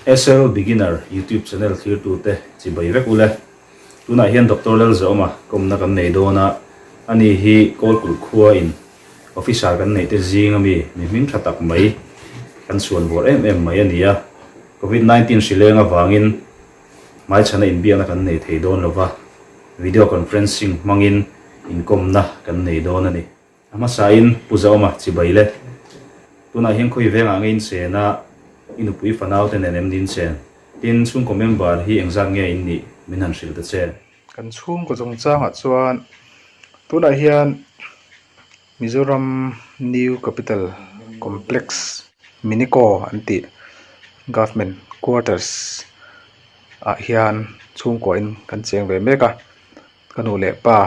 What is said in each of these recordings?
Sl Beginner YouTube channel thirtu te chi bai vek ule. Tunah hian Doctor Lal Zawma kawmna kan nei dawn a, ani hi Kawlkulh khua in Officer kan neih te zing a mi mi hming tha tak mai kan chuan vawr em em mai a ni a. Covid nineteen hri leng avangin hmaichhana inbiakna kan nei thei dawn lova video conferencing hmangin inkawmna kan nei dawn a ni. A hmasain Pu Zauma chibai le. Tunah hian khawi vengah nge in chen a, i nupui fanaute nen em ni in chen? Tin, chhungkaw member hi engzat nge in nih min han hrilh ta che? Kan chhungkaw chungchangah chuan tunah hian Mizoram New Capital Complex, Miniko an tih, Government Quarters ah hian chhungkaw in kan cheng ve mek a. Ka nu leh pa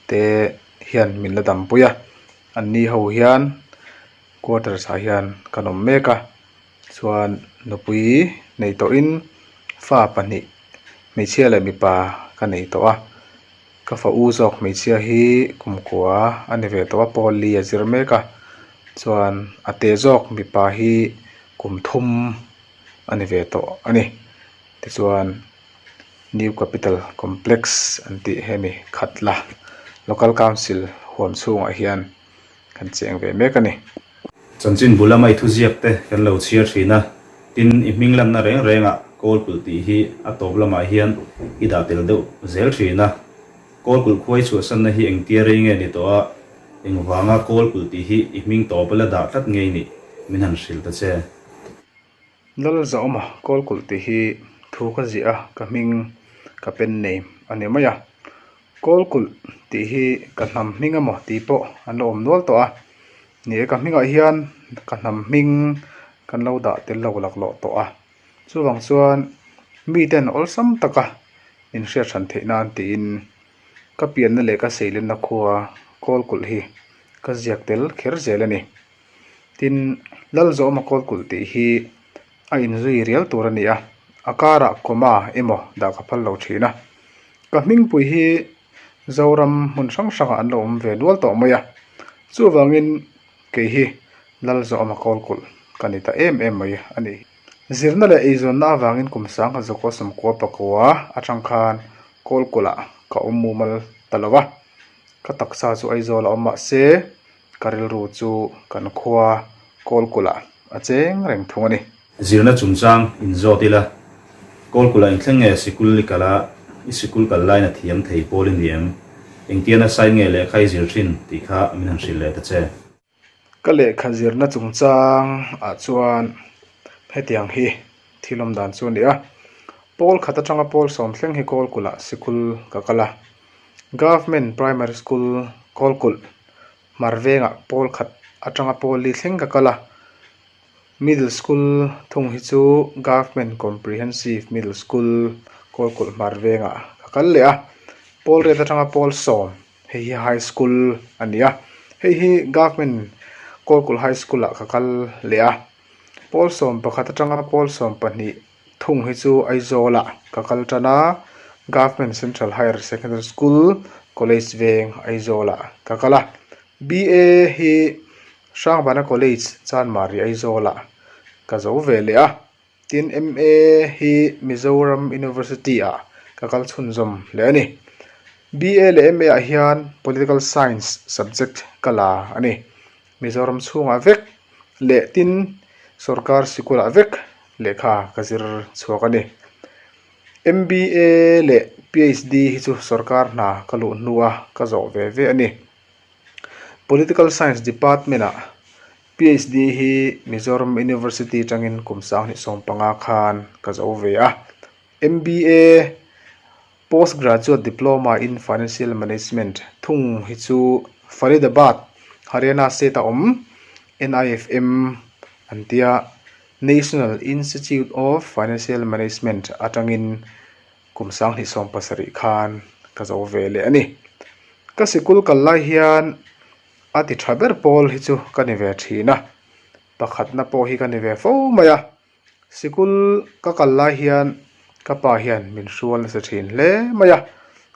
te hian min la dampui a, an ni ho hian quarters ah hian kan awm mek a, chuan nupui nei tawh in fa pahnih hmeichhia leh mipa ka nei tawh a, ka fa u zawk hmeichhia hi kum kua a ni ve tawh a, Polly a zir mek a, chuan a teh zawk mipa hi kum thum a ni ve tawh a ni, tichuan. New Capital Complex an tih hi a ni khat la Local Council huam chhungah hian kan cheng ve mek a ni. Chanchin bul lama i thuziak te kan lo chhiar thin a, tin i hming lanna reng rengah Kawlkulh tih hi a tawp lamah hian i dah tel deuh zel thin a. Kawlkulh khuai chhuahsanna hi engtia rei nge ni tawh a, engvanga Kawlkulh tih hi i hming tawpa la dah tlat ngei nih min han hrilh ta che. Lal Zauma kawl kulh tih hi thu ka ziah a, ka hming ka pen nei a ni mai a. Kawl kulh tih hi ka hnam hming a maw tih pawh an lo awm nual tawh a ni e. Ka hmingah hian ka hnam hming kan lo dah tel lo laklawh tawh a. Chuvang chuan miten awlsam taka inhriatchhan theih nan tiin ka pianna leh ka seilenna khua kawl kulh hi ka ziak tel kher zel a ni. tin Lalzawma kawlkulh tih hi a inzui rial tur a ni a, a karah comma emaw dah ka phal lo thin a, ka hmingpui hi Zoram hmun hrang hrangah an lo awm ve nual tawh mai a, chuvangin kei hi Lalzawma kawlkulh ka ni ta em em mai a nih hi. Zirna leh eizawnna avangin kum sangha Zokaw Sawmkua Pakua atang khan kawlkulh ah ka awm mumal ta lo a, ka taksa chu Aizawl a awm mahse, Ka rilru chu kan khua Kawlkulah a cheng reng thung a ni. Zirna chungchang in zawt ila, Kawlkula in thleng nge sikul i kal a, i sikul kal lain a thiam thei pawl i ni em? Engtiana sign nge lehkha i zir thin tih kha min han hrilh leh ta che. Ka lehkha zirna chungchang ah chuan hetiang hi thil awm dan chu a ni a, Pawl khat atanga pawl sawm thleng hi Kawlkulah sikul ka kal a, Government Primary School Kawlkulh hmar vengah pawl khat atanga pawl li thleng ka kal a, middle school thung hi chu Government Comprehensive Middle School Kawlkulh hmar vengah ka kal leh a, pawl ret atanga pawl sawm hei hi high school a ni a, hei hi Government Kawlkulh High School ah ka kal leh a, pawl sawm pakhat atanga pawl sawm pahnih. Thung hi chu Aizawl ah ka kal tan a, Government Central Higher Secondary School, College veng Aizawl ah ka kal a. BA hi Hrangvana College, Chanmari Aizawl ah ka zo ve leh a. Tin, MA hi Mizoram University ah ka kal chhunzawm leh a ni. BA leh MA ah hian Political Science subject ka la a ni. Mizoram chhungah vek leh tin sawrkar sikul ah vek lehkha ka zir chhuak a ni. MBA leh PHD hi chu sawrkar hna ka luh hnu a ka zawh ve ve a ni. Political Science Department ah PHD hi Mizoram University atangin kum sang hnih sawm panga khan ka zo ve a. MBA. Postgraduate Diploma in Financial Management thung hi chu Faridabad, Haryana state a awm NIFM an tia National Institute of Financial Management atangin kum sang hnihsawm pasarih khan ka zo ve leh a ni. Ka sikul kal lai hian a ti tha ber pawl hi chu ka ni ve thin a, pakhatna pawh hi ka ni ve fo mai a. Sikul ka kal lai hian ka pa hian min hrual nasa thin hle mai a,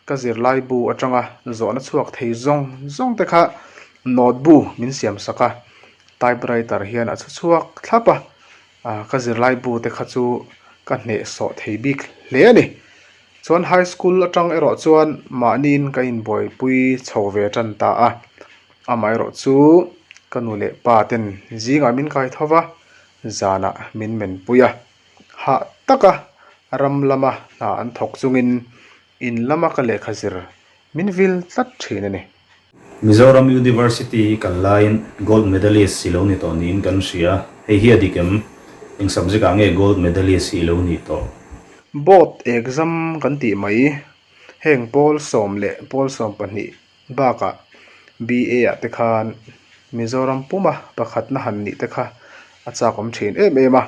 ka zirlai bu atanga zawhna chhuak thei zawng zawng te kha note bu min siam sak a, typewriter hian a chu chhuak thlap a, ka zirlai bu te kha chu ka hneh sawh thei bik hle a ni. Chuan high school atang erawh chuan mahniin ka inbuaipui chho ve tan ta a, amaherawhchu ka nu leh pa ten zingah min kaithova, zanah min menpui a, hah taka ram lama hna an thawk chungin in lama ka lehkha zir min vil tlat thin a ni. Mizoram University hi kal laiin Gold Medalist si lo ni tawh niin kan hria a, hei hi a dik em? Eng subject ah nge Gold Medalist hi i lo ni tawh? Board exam kan tih mai, heng Paul sawm leh Paul sawm pahnih Bakah BA-ah te khan Mizoram puma pakhatna han nih te kha a châkawm ṭhin êm êm a,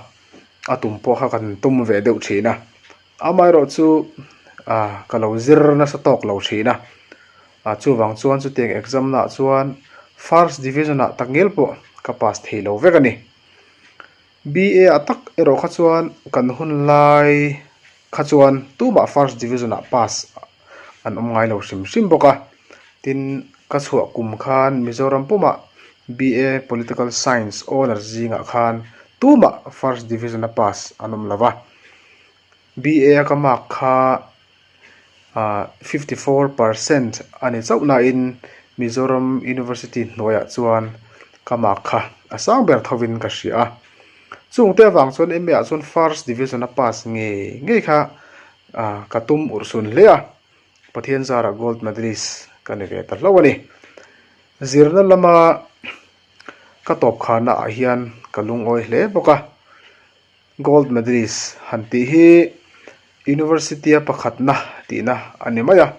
a tum pawh kha kan tum ve deuh ṭhin a, amaherawh chu aah ka lo zir nasa tâwk lo ṭhin a, aah chuvang chuan chutiang exam-nâ chuan First Division-ah tak ngêl pawh ka pass thei lo vek a ni. BA a tak erawh kha chuan kan hun lai kha chuan tumah first division ah pass an awm ngai lo hrim hrim bawk a tin ka chhuah kum khan Mizoram pawm ah BA political science honours zingah khan tumah first division a pass an awm lo va. BA a ka mark kha ah fifty four percent a ni chauh nain Mizoram University hnuaiah chuan ka mark kha a sang ber tho in ka hria a, chungte avang chuan MA ah chuan first division a pass ngei ngei kha ah ka tum urhsun hle a, Pathian zara gold medalist ka ni ve ta hlauh a ni. Zirna lama ka tawp khana ah hian ka lungawi hle bawk a. Gold medalist han tih hi University-a pakhatna tihna a ni mai a,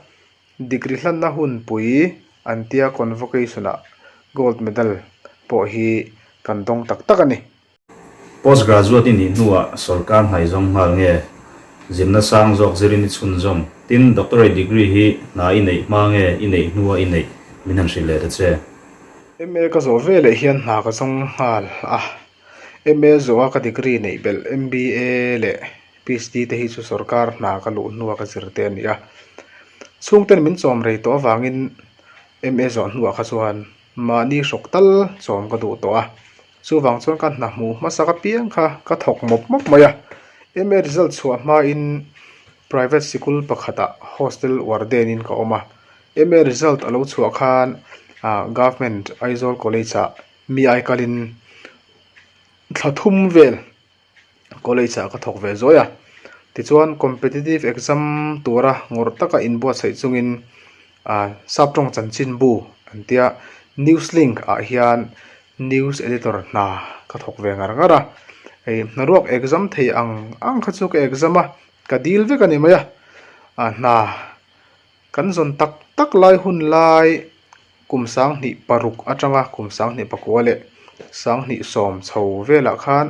degree hlanna hunpui an tia convocation-ah gold medal pawh hi kan dawng tak tak a ni. Post graduate-i nih hnuah sorkar hnai zawng nghal nge zimna sang zawk zirin i chhun zawng? Tin, doctorate degree hi hna i neih hma nge i neih hnua i neih? Min han hrilh leh ta che. MA ka zawh veleh hian hna ka zawng nghal a. MA zawha ka degree neih belh MBA leh PHD te hi chu sorkar hna ka luh hnu a ka zir te a ni a, chhungte an min chawm rei tawh avangin MA zawh hnuah kha chuan mahni hrawk tal chawm ka duh tawh a, chuvang chuan ka hna hmuh hmasa ka piang kha ka thawk mawp mawp mai a, MA result chhuah hmain private sikul pakhatah hostel warden in ka awm a, MA result a lo chhuah khan ahh government Aizawl College ah mi ai kalin thla thum vel college ah ka thawk ve zuai a tichuan competitive exam tura ngawr taka inbuatsaih chungin ah sap tawng chanchin bu an tia news link ah hian news editor hna ka thawk ve ngar ngar a hei hna ruak exam thei ang ang kha chu ka exam a ka dil vek a ni mai a ah hna. Kan zawn tak tak lai hun lai kum sang hnih paruk atanga kum sang hnih pakua leh sang hnih sawm chho velah khan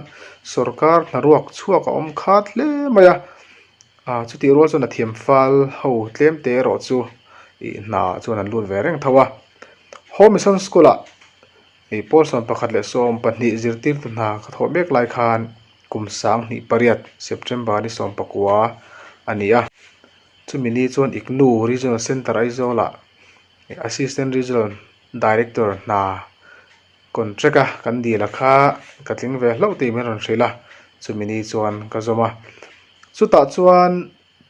sorkar hna ruak chhuak a awm khat hle mai a ah chutih rual chuan a thiamfal ho tlem te erawh chu ih hna chuan an lut ve reng tho a home mission school ah ih pawl sawm pakhat leh sawm pahnih zirtirtu hna ka thawh mek lai khan kum sang hnih pariat September ni sawm pakua a ni a. Chumi ni chuan ICNU Regional Centre Aizawla Assistant Regional Director hna contract a kan dil a kha ka tling ve hlauh tih min rawn hrilh a, chumi ni chuan ka zawm a. Chutah chuan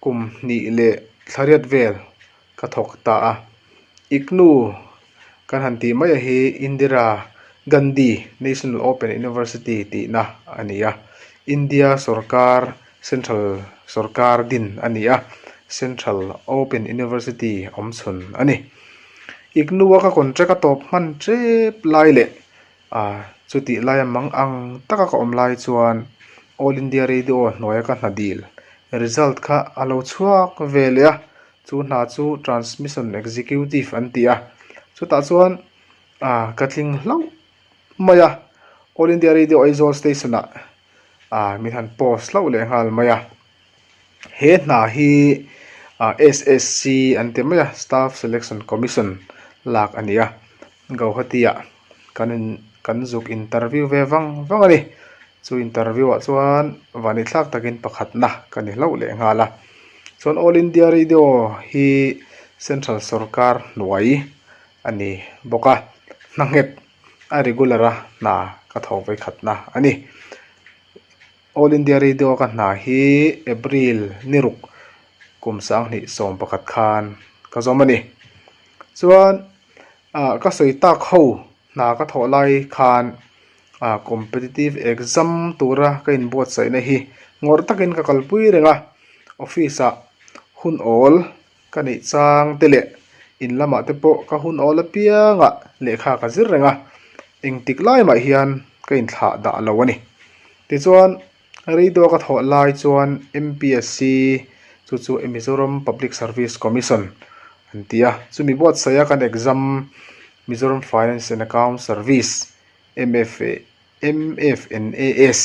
kum hnih leh thlariat vel ka thawk ta a. ICNU Kan han tih maia hi Indira Gandhi National Open University tihna a ni a, India sorkar central sorkar din a ni a, central open university awm chhun a ni. IGNOU a ka contract a tawp hman tep lai leh ah chutih laia mang ang taka ka awm lai chuan All India Radio hnuaia ka hnadil result kha a lo chhuak ve leh a. Chu hna chu Transmission Executive an ti a, chutah chuan ah ka tling hlauh mai a, All India Radio Aizawl station ah ah min han post hlauh leh nghal mai a, he hna hi SSC an ti mai a, Staff Selection Commission lak a ni a. Guwahatiah kan in kan zuk interview ve vang vang a ni. Chu interview ah chuan vani thlak takin pakhatna ka ni hlauh leh nghal a. Chuan All India Radio hi Central Sorkar hnuai a ni bawk a, hna nghet a regular a hna ka tho vei khatna a ni. All India Radio ka hna hi April ni ruk kum sanghnih sawm pakhat khan ka zawm a ni. Chuan. ah ka sawi tak ho hna ka thawh lai khan ah competitive exam tura ka in buat saih na hi ngawrh takin ka kalpui reng a office ah hun awl ka neih chang te leh in lamah te pawh ka hun awl apiang ah lehkha ka zir reng a engtik lai mah hian ka in thlah dah lo a ni tichuan. Reiduak a thawh lai chuan MPSC chu chu Mizoram Public Service Commission an ti a chumi buatsaih a kan exam Mizoram Finance and Account Service MFA MFNAS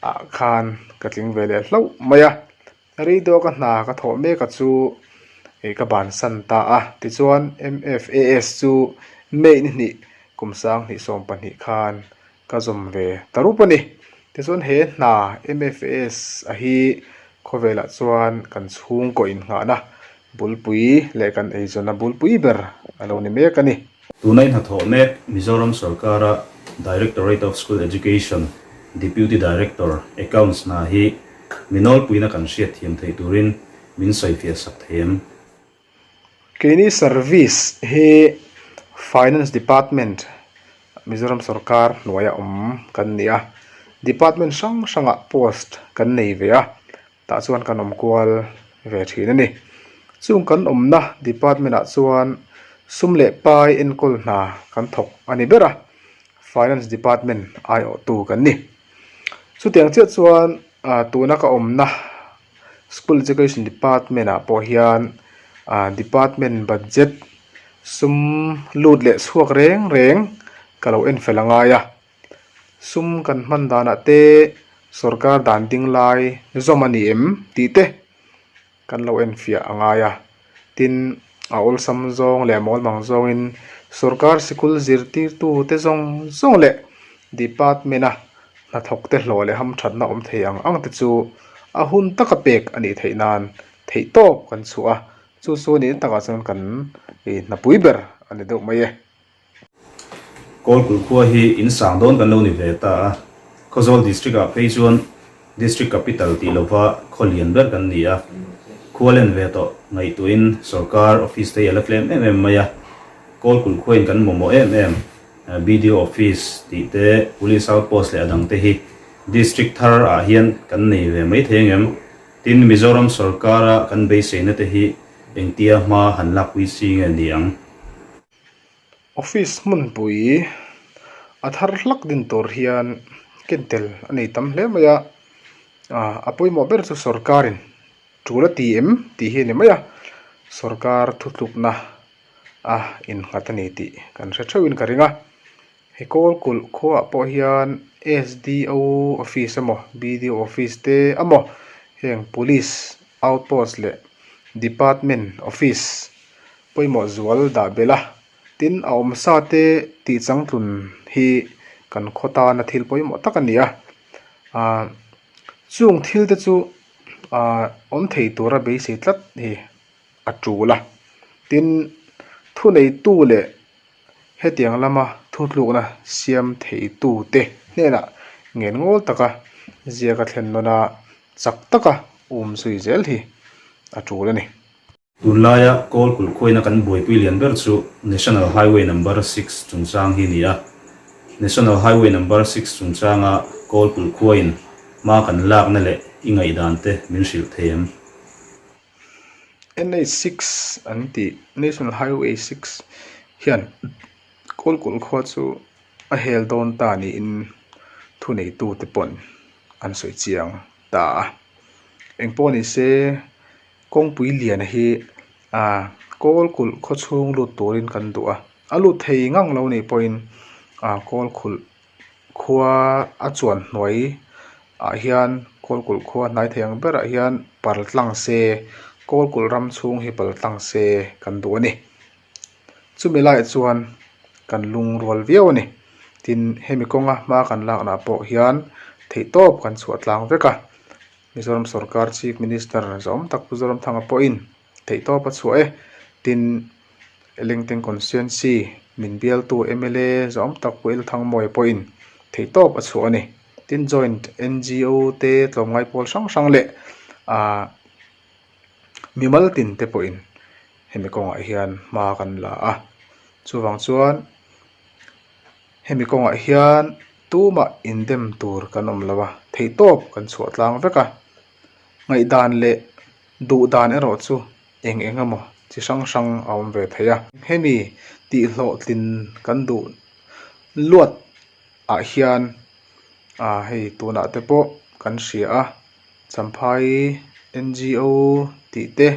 ah khan ka tling ve leh hlauh mai a Reidaw ka hna ka thawh mek a chu ka ban san ta a tichuan MFAS chu May ni hnih kum sang hnih sawm pahnih khan ka zawm ve ta rup a ni. Tichuan he hna MFAS a hi khawvelah chuan kan chhungkaw inngahna Bulpui leh kan eizawnna bulpui ber a lo ni mek a ni. Tuna i hnathawh mek Mizoram sawrkara Directorate of School Education Deputy Director, Accounts, hna hi mi nawlpuina kan hriat thiam theih turin min sawifiah sak thei em? Keini service hi Finance Department Mizoram sawrkar hnuaia awm kan ni a, department hrang hrangah post kan nei ve a. tah chuan kan awm kual ve thin a ni chung kan awmna department ah chuan sum leh pai enkawl hna kan thawk a ni ber a finance department aiawhtu kan ni chutiang chiah chuan ah tuna ka awmna school education department ah pawh hian ah department budget sum lut leh chhuak reng reng ka lo en fel a ngai a. Sum kan hman danah te sorkar dan ding lai zawm a ni em tih te kan lo en fiah a ngai a. Tin, a awlsam zawng leh a mawlmang zawngin sorkar sikul zirtirtu te zawng zawng leh department a hnathawk te hlawh leh hamthatna awm thei ang ang te chu a hun taka pek a nih theih nan theih tawp kan chhuah a. Chu chu ni takah chuan kan hnapui ber a ni deuh mai e. Kawl Khul khua hi in sang dawn kan lo ni ve ta a, Khawzawl District ah phei chuan District Capital tih lova khaw lian ber kan ni a, khua len ve tawh ngaihtuahin sorkar office te hi a la tlem em em mai a, Kawl Khul khuain kan mawmawh em em BDO office tih te, Police Outpost leh a dang te hi District thar ah hian kan nei ve mai thei ang em? Tin, Mizoram sorkar a kan beiseina te hi engtia hma han lakpui si nge ni ang? office hmunpui a thar hlak din tur hian ken tel a nei tam hle mai a ah a pawimawh ber chu sorkarin thu la ti em tih hi a ni mai a sorkar thutlukna a innghat a ni tih kan hre theuh in ka ring a he kawl kulh khuah pawh hian sdo office emaw bdo office te amaw heng police outpost leh department office -- Pawimawh zual dah belh a, tin a awm sa te tih changtlun hi kan khaw tana thil pawimawh tak a ni a. Aaa chung thil te chu aa awm thei tura beisei tlat hi a tul a, tin thuneitu leh hetiang lama thutlukna siam theitu te hnenah ngen ngawl taka ziaka thlen nawna chak taka um zui zel hi a tul a ni. Tunlaia kawl kulh khuaina kan buaipui lian ber chu National Highway Number six chungchang hi ni a. National Highway Number six chungchanga kawl kulh khuain hma kan lakna leh i ngaihdan te min hrilh thei em? NH six an ti, National Highway six, hian kawl kulh khua chu a hel dawn ta niin thuneitute pawn an sawi chiang ta a. Engpawhnise. Kawngpui lian hi ah kawl kulh khaw chhung lut turin kan duh a, a lut thei ngang lo nih pawhin ah kawl khulh khua a chuan hnuai ah hian kawl kulh khua hnai thei ang berah hian pal tlang se kawl kulh ram chhung hi pal tlang se kan duh a ni. Chumi lai chuan kan lung rual viau a ni. Tin hemi kawnga hma kan lakna pawh hian theihtawp kan chhuah tlang vek a. Mizoram sawrkar Chief Minister zawm tak pu Zoramthanga pawhin theihtawp a chhuah e tin Lengteng constituency min bialtu mla zawm tak pu El Thangmawia pawhin theihtawp a chhuah a ni. Tin joint NGO te tlawmngai pawl hrang hrang leh ah mimal tin te pawhin hemi kawngah hian hma kan la a. Chuvang chuan. Hemi kawngah hian tuma indem tur kan awm lo a, theihtawp kan chhuahtlang vek a, ngaihdan leh duhdan erawh chu eng eng emaw chi hrang hrang a awm ve thei a. Hemi tihhlawhtlin kan duh luat ah hian a hei tunahte pawh kan hria a. Champhai NGO tih te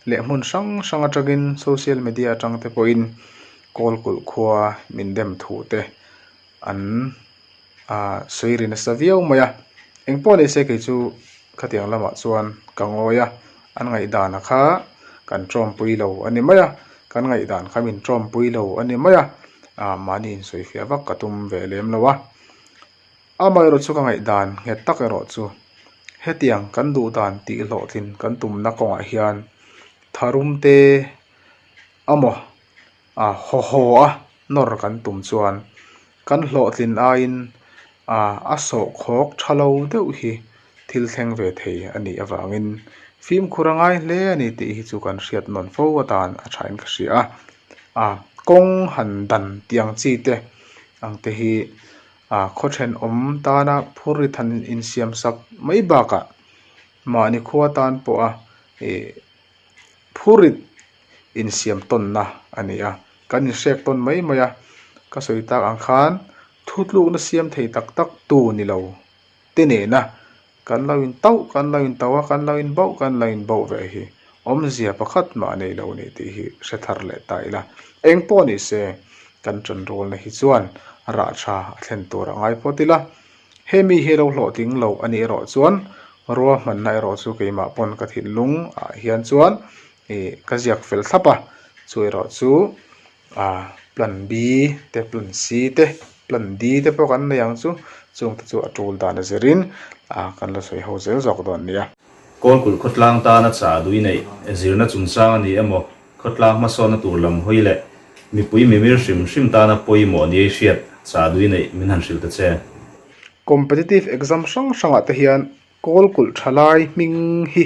leh hmun hrang hrang atangin social media atang te pawhin kawl kulh khua min dem thu te an ah sawi ri nasa viau mai a, engpawh ni se kei chu khatiang lamah chuan ka ngawi a, an ngaihdan a kha kan tawmpui lo a ni mai a, kan ngaihdan kha min tawmpui lo a ni mai a, ah mahni insawi fiah vak ka tum ve lem lo a. Amaherawhchu chu ka ngaihdan nghet tak erawh chu, hetiang kan duhdan tih hlawhtlin kan tumna kawngah hian tharum te amaw a haw haw a nawr kan tum chuan kan hlawhtlin aiin ah a sawhkhawk tha lo deuh hi thil thleng ve thei a nih avangin fimkhur a ngai hle a ni tih hi chu kan hriat nawn fo atan a thain ka hria a. ah kawng han dan tih ang chi te ang te hi ah khaw then awm tana phur ri than in siam sak mai bakah mahni khua tan pawha ih phur rit in siam tawn na a ni a kan in hrek tawn mai mai a ka sawi tak ang khan thu tluk na siam thei tak tak tu ni lo. te nena kan lo in tauh kan lo in tauh a kan lo in bauh kan lo in bauh ve hi awmzia pakhat mah nei lo ni tih hi hre thar leh ta ila eng pawh ni se kan chanrulna hi chuan rah tha a thlen tur a ngai phawt ila hemi hi lo hlawh ding lo a nih erawh chuan rua hmanna erawh chu keimah pawn ka thinlung ah hian chuan ih ka ziak fel thlap a chu erawh chu. ah plan B te plan C te plan D te pawh kan nei ang chu chung te chu a tul dan a zir in ah kan la sawi ho zel zawk dawn a ni a. Kawlkulh khawtlang tana chahduih neih zirna chungchang a nih emaw, khawtlang hmasawnna tur lam hawi leh mipui mimir hrim hrim tana pawimawh ni ei hriat chahduih neih min han hrilh ta che. Competitive exam hrang hrangah te hian. Kawl kulh tha lai hming hi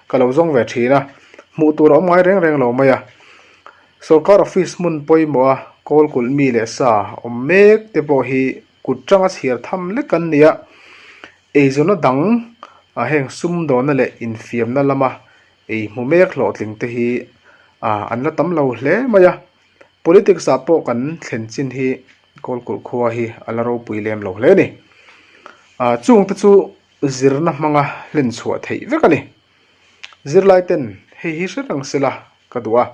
ka lo zawng ve thin a, hmuh tur a awm ngai reng reng lo mai a. Sorkar office hmun pawimawha kawl kulh mi leh sa awm mek te pawh hi kut tanga chhiar tham lek an ni a. Eizawnna dang a heng sumdawna leh infiamna lama ei hmu mek hlawhtling te hi an la tam lo hle mai a. Politics ah pawh kan thlen chin hi Kawlkulh khua hi a la ropui lem lo hle a ni. Aa chung te chu zirna hmanga hlen chhuah theih vek a ni. Zirlai ten hei hi hre rang se la ka duh a,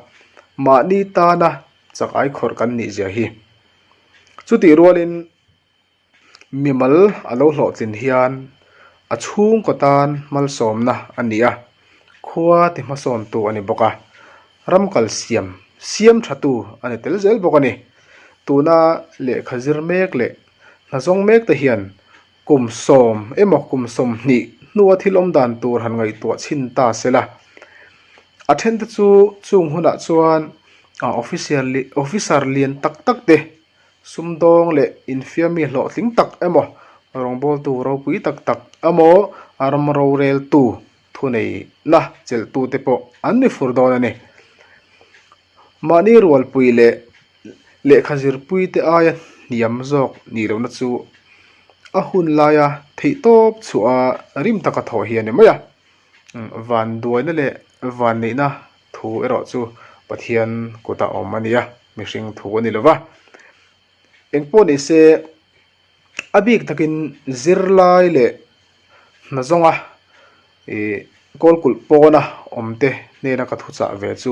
mahni tana chak aikhawrh kan nih zia hi. Chutih rualin Mimal a lo hlawh chin hian a chhungkaw tan malsawmna a ni a, khua ti hmasawm tu a ni bawk a, ram kal siam siam tha tu a ni tel zel bawk a ni. Tuna lehkha zir mek leh hna zawng mek te hian kum sawm emaw kum sawmhnih hnua thil awm dan tur han ngaihtuah chhin ta sela, a then te chu chung hunah chuan officer lian tak tak te. Sumdawng leh infiam mi hlawhtling tak emaw, rawngbawltu ropui tak tak emaw, ram roreltu thuneihna chelhtute pawh an ni fur dawn a ni. Mahni rualpui leh lehkha zirpuite aia hniam zawk nih lohna chu a hun laia theihtawp chhuaha rim taka thawh hi a ni mai a. Van duaina leh van neihna thu erawh chu Pathian kutah a awm a nia, mihring thu a ni lova. Engpawh ni se, a bik takin zirlai leh hna zawnga ihh kawlkulh pawna awmte nena ka thuchah ve chu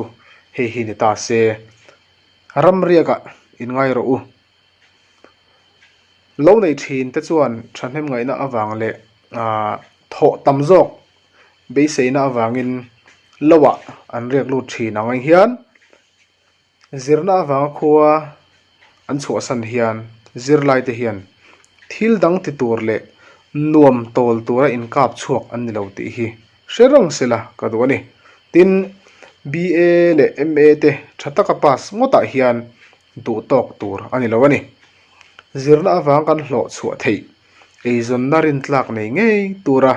hei hi ni ta se, ramriakah in ngaih rawh u. Lo nei thin te chuan thahnem ngaihna avang leh aah thawh tam zawk beiseina avangin loah an riak lut thin ang ai hian zirna avanga khua an chhuahsan hian zirlai te hian thil dang ti tur leh nuam tawl tura inkap chhuak an ni lo tih hi hre rawn se la ka duh a ni tin BA leh MA te tha taka pass ngawtah hian-- duh tawk tur a ni lo a ni. Zirna avang kan hlawh chhuah theih eizawnna rintlak nei ngei tura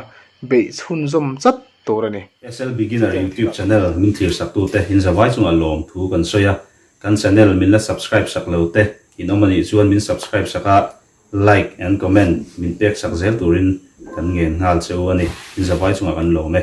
beih chhunzawm chat tur a ni. Excel Beginner YouTube Channel min thlirsaktu te in zavai chungah lawm thu kan sawi a, kan channel min la subscribe sak lo te in awm a nih chuan min subscribe sak a, like and comment min pek sak zel turin kan ngen nghal che u a ni, in zavai chungah kan lawm e.